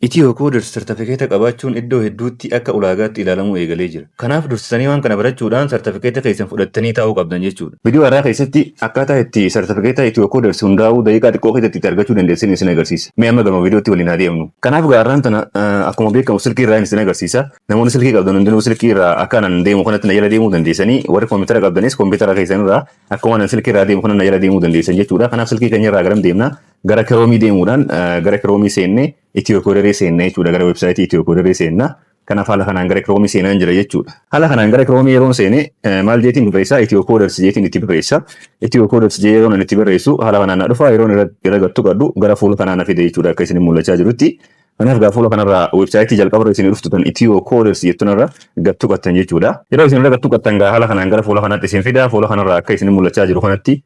Ethio Coders sartafikeeta qabaachuun iddoo hedduutti akka ulaagaatti ilaalamuu eegalee jira. Kanaaf dursitanii waan kana barachuudhaan sartafikeeta keessan fudhattanii taa'uu qabdan jechuudha. Video har'aa keessatti akkaataa itti sartafikeeta Ethio Coders hundaa'uu daqiiqaa xiqqoo keessatti itti argachuu dandeessan isin agarsiisa. Mee amma gama videotti waliin haa deemnu. Kanaaf egaa har'aan tana akkuma beekamu silkii irraa isin agarsiisa. Namoonni silkii qabdan hundinuu silkii irraa akka anan deemu kanatti na jala deemuu dandeessanii warri koompitara qabdanis koompitara keessan irraa akkuma anan silkii irraa deemu kana na jala deemuu dandeessan jechuudha. Kanaaf silkii keenya irraa garam deemna? Gara Kiroomii deemuudhaan gara Kiroomii seennee Itiyookoderee seenna jechuudha. Gara websaayitii Itiyookoderee seenna. Kanaaf haala kanaan gara Kiroomii seenaan jira jechuudha. Haala kanaan gara Kiroomii yeroon seene maal jeetiin barreessaa? Itiyookoders jeetiin itti barreessa. Itiyookoders jee yeroon itti barreessu haala kanaan na dhufa yeroon irra gattu qadhu gara fuula kanaa na fide jechuudha akka isin mul'achaa jirutti. Kanaaf gaa fuula kanarraa websaayitii jalqabarra isin dhuftu tan Itiyookoders jettunarra gattu qattan jechuudha. Yeroo isin irra gattu qattan gaa haala kanaan gara fuula kanaatti isin fida fuula kanarraa akka isin mul'achaa jiru kanatti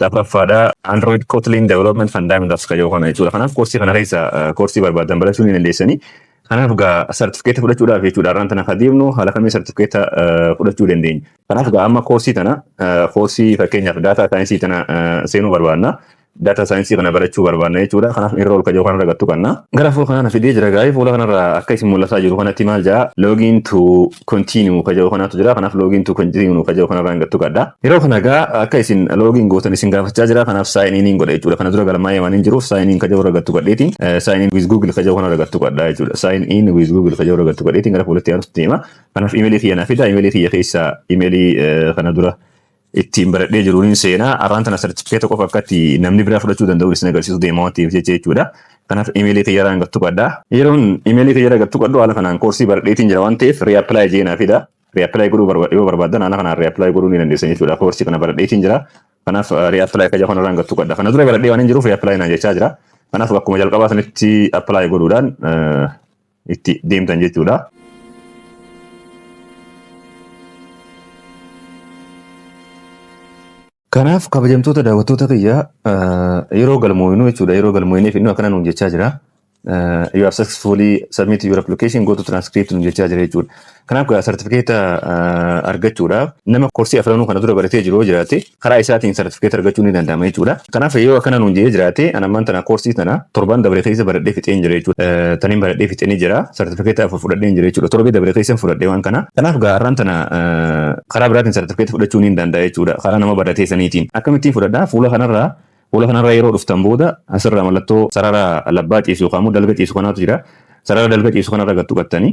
Lammaffaadha Android Kotlin Development Fundamentals kan jedhu kana jechuudha. Kanaaf koorsii kana keessa koorsii barbaadan barachuu ni dandeessanii. Kanaaf egaa sartifikeeta fudhachuudhaaf jechuudha. Har'aan tana kan deemnu haala kamiin sartifikeeta fudhachuu dandeenya. Kanaaf egaa amma koorsii tana koorsii fakkeenyaaf daataa saayinsii tana seenuu barbaadna. Daataa saayinsii kana barachuu barbaadna jechuudha. Kanaaf irra ol kajoo kanarra gattu qabna. Gara fuula kanaan fidee jira gaa'ee fuula kanarra akka isin mul'ataa jiru kanatti maal ja'a login to continue ka jedhu kanaatu jira kanaaf login to continue ka jedhu kanarraan gattu gadda yeroo kana gaa akka isin login gootan isin gaafachaa jira kanaaf sign in godha jechuudha kana dura galmaa'ee waan hin jiruuf sign in ka jedhu irra gattu gadheeti sign in with google ka jedhu kanarra gattu gadda jechuudha sign in with google ka jedhu irra gattu gadheeti gara fuulatti aanutti deema kanaaf imeelii kiyya naaf fida imeelii kiyya keessa imeelii kana dura ittiin baradhee jiru niin seena. Arraan tana sartifikeeta qofa akkatti namni biraa fudhachuu danda'u isin agarsiisuu deema waan ta'eef jecha jechuudha. Kanaaf imeelii kiyya irraan gattu qadha. Yeroon imeelii kiyya irraa gattu qadhu haala kanaan koorsii baradheetiin jira waan ta'eef reapply jee naa fida. Reapply godhuu barbaad yoo barbaaddan haala kanaan reapply godhuu ni dandeessan jechuudha. Koorsii kana baradheetiin jira. Kanaaf reapply kiyya kana irraan gattu qadha. Kana dura baradhee waan hin jiruuf reapply naan jechaa jira. Kanaaf bakkuma jalqabaa sanitti apply godhuudhaan itti deemtan jechuudha. Kanaaf kabajamtoota daawwattoota kiyya yeroo galmooyinu jechuudha yeroo galmooyineef inni akkana nuun jechaa jira. You have successfully submitted your application go to transcript nuun jechaa jira jechuudha. Kanaaf gaa sartifikeeta argachuudhaaf nama koorsii afranuu kana dura baratee jiru yoo jiraate karaa isaatiin sartifikeeta argachuu ni danda'ama jechuudha. Kanaaf yoo akkana nuun jedhee jiraate an ammaan tana koorsii tana torbaan dabre keessa baradhee fixeen jira jechuudha. Eh, Taniin baradhee fixee ni jira sartifikeeta afur fudhadheen jira jechuudha. Torbee dabre keessan fudhadhee waan kana. Kanaaf gaa har'aan tana eh, karaa biraatiin sartifikeeta fudhachuu ni danda'a jechuudha. Karaa nama baratee saniitiin. Akkamittiin fudhadhaa fuula kanarraa fuula kanarraa yeroo dhuftan booda asirraa mallattoo sarara labbaa ciisu yookaan immoo dalga ciisu kanaatu jira. Sarara dalga ciisu kanarra gattu qattanii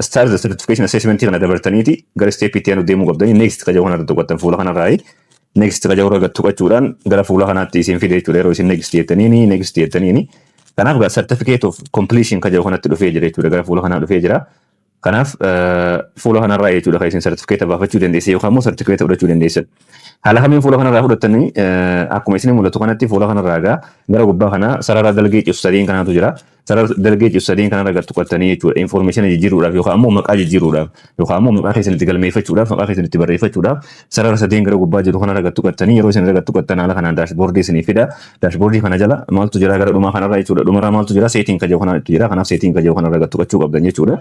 Start the certification assessment kana dabartaniiti gara step itti aanu deemuu qabdanii next qajahu kanarra tuqattan fuula kanarraayi next qajahu irra tuqachuudhaan gara fuula kanaatti isin fide jechuudha yeroo isin next jettaniini next jettaniini kanaaf gaa certificate of completion qajahu kanatti dhufee jira jechuudha gara fuula kanaa dhufee jira kanaaf fuula kanarraa jechuudha kan isin certificate baafachuu dandeessan yookaan immoo certificate fudhachuu dandeessan haala kamiin fuula kanarraa fudhattanii akkuma isin mul'atu kanatti fuula kanarraa gaa gara gubbaa kanaa sarara dalgee cibsaliin kanaatu jira Sarara dalgee citu sadeen kanarra gar tuqattanii jechuudha. Infoormeeshina jijjiiruudhaaf yookaan ammoo maqaa jijjiiruudhaaf yookaan ammoo maqaa keessan itti galmeeffachuudhaaf maqaa keessan itti barreeffachuudhaaf sarara sadeen gara gubbaa jiru kanarra gar tuqattanii yeroo isin irra gar tuqattan haala kanaan daashboordii isinii fida. Daashboordii kana jala maaltu jira gara dhumaa kanarra jechuudha. Dhumarraa maaltu jira seetiin kaja'u kanatu jira. Kanaaf seetiin kaja'u kanarra gar tuqachuu qabdan jechuudha.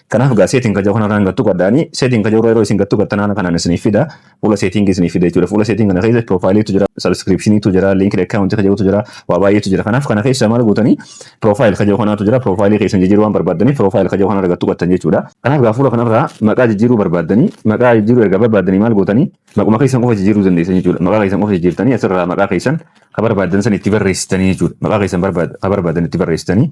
Kanaaf egaa seetiin kaja'u kanarra gar tuqadhaanii seetiin kaja'u irra yeroo isin gar tuqattan haala kanaan isiniif fida. fuula seetingii isinii fida jechuudha. Fuula seetingii kana keessa piroofaayiliitu jira, sabskiripshiniitu jira, liinkii akkaawuntii kan jedhutu jira, waa baay'eetu jira. Kanaaf kana keessa maal gootanii piroofaayil kan jedhu kanaatu jira. Piroofaayilii keessan jijjiiruu waan barbaaddaniif piroofaayil kan jedhu kanarra gad tuqattan jechuudha. Kanaaf gaa fuula kanarraa maqaa jijjiiruu barbaaddanii maqaa jijjiiruu erga barbaaddanii maal gootanii maquma keessan qofa jijjiiruu dandeessan jechuudha. Maqaa keessan qofa jijjiirtanii asirraa maqaa keessan kan barbaaddan san itti barreessitanii jechuudha. Maqaa keessan kan barbaaddan itti barreessitanii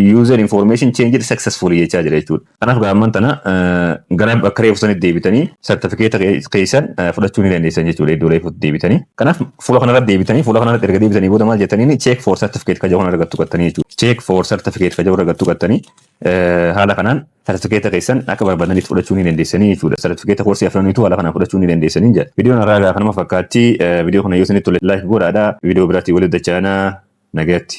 User information changed successfully jechaa jira jechuudha. Kanaaf gaamman tana gara bakka reefu sanitti deebitanii sartifikeeta keessan fudhachuu ni dandeessan jechuudha iddoo reefutti deebitanii. Kanaaf fuula kanarratti deebitanii fuula kanarratti erga deebitanii booda maal jettaniin check for certificate kajahu kana argattu qattanii jechuudha. Check for certificate kajahu argattu qattanii haala kanaan sartifikeeta keessan akka barbaadanitti fudhachuu ni dandeessanii jechuudha. Sartifikeeta koorsii afraniitu haala kanaan fudhachuu ni dandeessanii jedha. Viidiyoon irraa egaa kanuma fakkaatti viidiyoo kana yoo isinitti tole laayik godhaadha. Viidiyoo biraatti walitti dachaana nagayatti.